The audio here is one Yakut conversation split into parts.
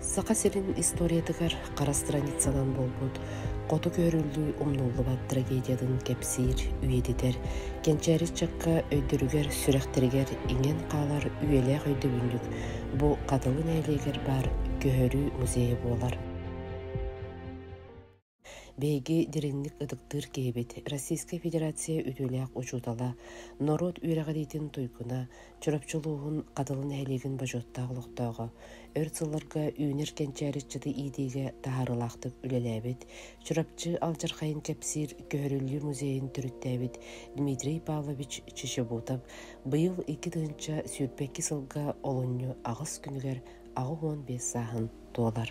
Саха сирин историятыгар хара страницанан буолбут хоту көһөрүллүү умнуллубат трагедиятын кэпсиир, үйэтитэр, кэнчээри өйдөрүгэр, сүрэхтэригэр иҥэн хаалар үйэлээх өйдөбүнньүк бу Хатылы нэһилиэгэр баар көһөрүү музейа буолар. Биһиги дириҥник ытыктыыр киһибит, Российскай Федерация үтүөлээх учуутала, норуот үөрэҕириитин туйгуна, Чурапчы улууһун Хатылы нэһилиэгин бочуоттаах олохтооҕо, өр сылларга үүнэр кэнчээри ыччаты иитиигэ таһаарыылаахтык үлэлээбит, Чурапчы алдьархайын кэпсиир Көһөрүллүү музейын төрүттээбит Дмитрий Павлович Чичебутов быйыл икки тыһыынча сүүрбэкки сылга олунньу аҕыс күнүгэр аҕыс уон биэс сааһын туолар.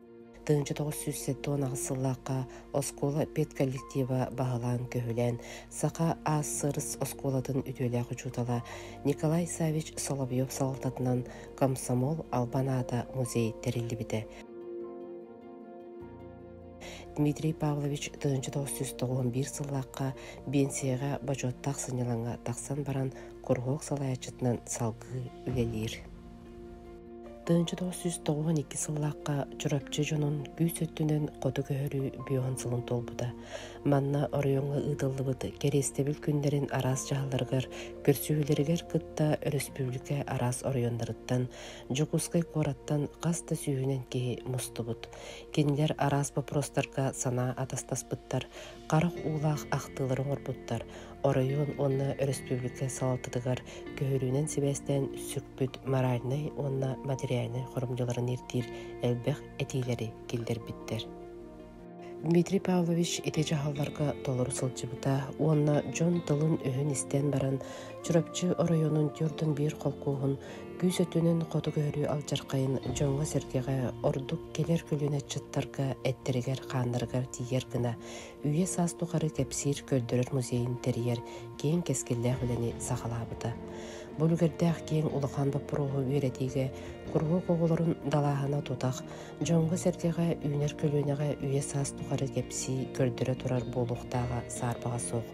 Тыһыынча тоҕус сүүс сэттэ уон аҕыс сыллаахха оскуола педколлектива баһылаан-көһүлээн Саха АССРС оскуолатын үтүөлээх учуутала Николай Савич Соловьев салалтатынан комсомол албан аата музей тэриллибитэ. Дмитрий Павлович тыһыынча тоҕус сүүс тоҕуон биир сыллаахха биэнсийэҕэ бочуоттаах сынньалаҥҥа тахсан баран куруһуок салайааччытынан салгыы үлэлиир. Тыынчытого сүүс тоҕуһун икки сыллаахха Чурапчы дьонун күүс өттүнэн хоту көһөрүү биоһун сылын туолбута. Манна оройуонга ыытыллыбыт кэриэстэбил күннэрин араас дьаһалларыгар, көрсүһүүлэригэр кытта өрөспүүбүлүкэ араас оройуоннарыттан, Дьокуускай куораттан хас да сүүһүнэн киһи мустубут. Кинилэр араас боппуруостарга санаа атастаспыттар, Харах уулаах ахтыылары оҥорбуттар оройуон уонна өрөспүүбүлүкэ салалтатыгар көһөрүүнэн сибээстээн сүкпүт моральнай уонна материальнай хорумдьуларын ирдиир элбэх этиилэри киллэрбиттэр. Дмитрий Павлович ити дьаһалларга толору сылдьыбыта уонна дьон тылын-өһүн истэн баран Чурапчы оройуонун түөртэн биир холкуоһун күүс өттүнэн хоту көһөрүү алдьархайын дьоҥҥо-сэргэҕэ ордук кэлэр көлүөнэ ыччаттарга эттэригэр-хааннарыгар тиийэр гына үйэ-саас тухары кэпсиир көрдөрөр музейын тэрийэр киэҥ кэскиллээх үлэни саҕалаабыта. Бу үлүгэрдээх киэҥ улахан боппуруоһу үөрэтиигэ куруһуок оҕолорун далааһына тутах, дьоҥҥо-сэргэҕэ үүнэр көлүөнэҕэ үйэ-саас тухары кэпсии көрдөрө турар буолуохтааҕа саарбаҕа суох.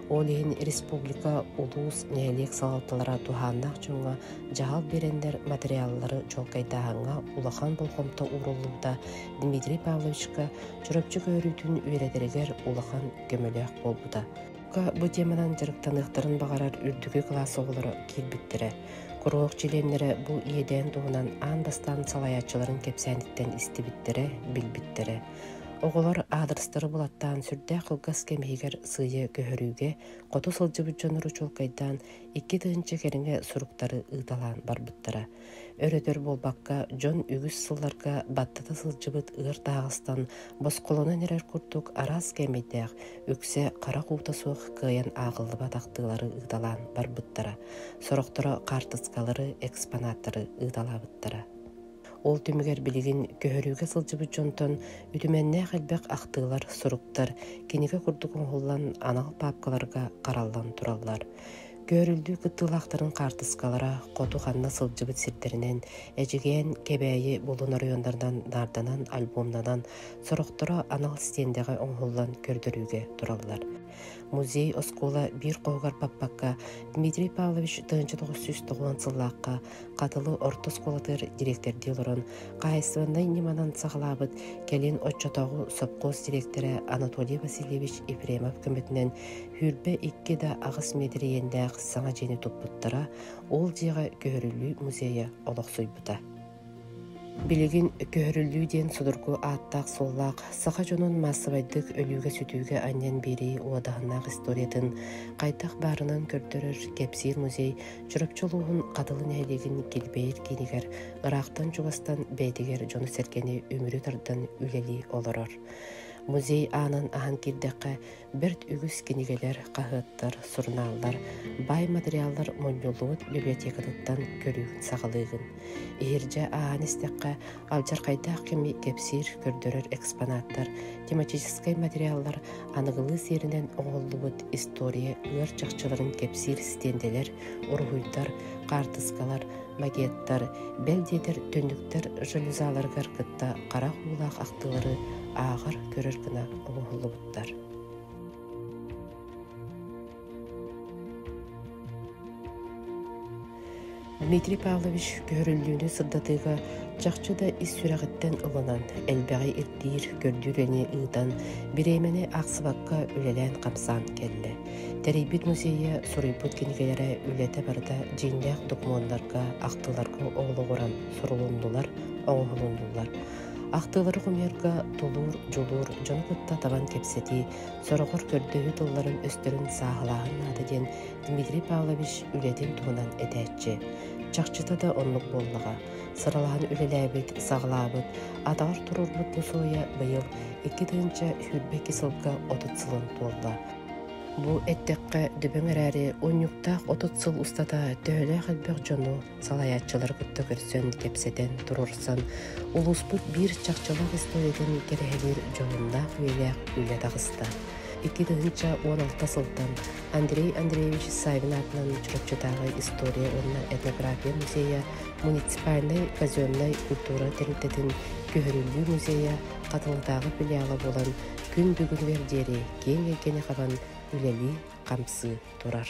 Ол иһин республика, улуус, нэһилиэк салалталара туһааннаах дьоҥҥо дьаһал биэрэннэр материаллары чуолкайдааһыҥҥа улахан болҕомто ууруллубута Дмитрий Павловичка Чурапчы көөрүүтүн үөрэтэригэр улахан көмөлөөх буолбута. Курупка бу теманан дьарыктаныахтарын баҕарар үрдүкү кылаас оҕолоро киирбиттэрэ. Куруһуок чилиэннэрэ бу иэдээн туһунан аан бастаан салайааччыларын кэпсээниттэн истибиттэрэ, билбиттэрэ. Оҕолор аадырыстары булаттаан сүрдээх кылгас кэм иһигэр сыыйа көһөрүүгэ хоту сылдьыбыт дьоннору чуолкайдаан икки тыһыынча кэриҥэ суруктары ыыталаан барбыттара. Өрөтөр буолбакка, дьон үгүс сылларга баттата сылдьыбыт ыар таһаҕастан босхолонон эрэр курдук араас кээмэйдээх, үксэ харах уута суох кыайан ааҕыллыбатахтыылары ыыталаан барбыттара, сорохторо хаартыскалары, экспонаттары ыыталаабыттара. Ол түмүгэр билигин көһөрүүгэ сылдьыбыт дьонтон үтүмэннээх элбэх ахтыылар, суруктар кинигэ курдук оҥоһуллан анал паапкаларга хараллан тураллар. Көөрүллүү кыттыылаахтарын хаартыскалара хоту ханна сылдьыбыт сирдэринэн, эдьигээн Кэбээйи булун оройуоннарынан наарданан, альбомнанан, сорохторо анал стендэҕэ оҥоһуллан көрдөрүүгэ тураллар. Музей оскуола биир хоһугар баппакка Дмитрий Павлович тыһыынча тоҕус сүүс тоҕуон сыллаахха Хатылы орто оскуолатыгар дириэктэрдии олорон, хаһаайыстыбаннай ньыманан саҕалаабыт, кэлин оччотооҕу сопхуос дириэктэрэ Анатолий Васильевич Ефремов көмөтүнэн Хүүрбэ икки да аҕыс миэдэрийиэннээх саҥа дьиэни туппуттара, ол дьиэҕэ Көһөрүлүү музейа олохсуйбута. Билигин «Көһөрүллүү» диэн судургу ааттаах-суоллаах саха дьонун маассабайдык өлүүгэ-сүтүүгэ анньан биэрии уодаһыннаах историятын хайдах баарынан көрдөрөр кэпсиир музей Чурапчы улууһун Хатылы нэһилиэгин Кирбэйэр киинигэр ыраахтан-чугастан бэйэтигэр дьону-сэргэни үмүрү тардан үлэлии олорор. Музей аанын аһан киирдэххэ, бэрт үгүс кинигэлэр, хаһыаттар, сурунааллар, баай материаллар мунньуллубут библиотекатыттан көрүүгүн-саҕалыыгын. Иһирдьэ ааһан истэххэ, алдьархайдаах кэми кэпсиир, көрдөрөр экспонаттар, тематическай материаллар аныгылыы сиэринэн оҥоһуллубут история ыар чахчыларын кэпсиир стендэлэр, уруһуйдар, хаартыскалар, макеттар, бэл диэтэр түннүктэр жалюзаларыгар кытта харах уулаах ахтыылары ааҕар, көрөр гына оҥоһуллубут. туттар Дмитрий Павлович көһөрүллүүнү сырдатыыга чахчы да ис сүрэҕиттэн ылынан, элбэҕи ирдиир, көрдүүр эни ыытан, бириэмэни ахсыбакка үлэлээн-хамсаан кэллэ. Тэрийбит музейа суруйбут кинигэлэрэ үлэтэ барыта дьиҥнээх докумуоннарга, ахтыларга олоҕуран сурулуннулар, оҥоһулуннулар. Ахтыылары хомуйарга тулуур, дьулуур, дьону кытта табан кэпсэтии, сороҕор көрдөһүү тылларын өстөрүн сааһылааһын наада диэн Дмитрий Павлович үлэтин туһунан этээччи. Чахчыта да оннук буоллаҕа. Сыралаһан үлэлээбит, саҕалаабыт, атаҕар туруорбут мусуойа быйыл икки тыһыынча сүүрбэ икки сылга отут сылын туолла. Бу эттэххэ, дүбэҥ эрээри унньуктаах отут сыл устата төһөлөөх элбэх дьону, салайааччылары кытта көрсөн, кэпсэтэн, туруорсан, улууспут биир чахчылаах историятын кэрэһэлиир дьоһуннаах-үөлээх үлэ таҕыста. Икки тыһыынча уон алта сылтан Андрей Андреевич Савин аатынан Чурапчытааҕы история уонна этнография музейа, муниципальнай казеннай культура тэрилтэтин көһөрүллүү музейа Хатылытааҕы филиала буолан күн бүгүнүгэр диэри киэҥ эйгэни хабан үлэлии-хамсыы турар.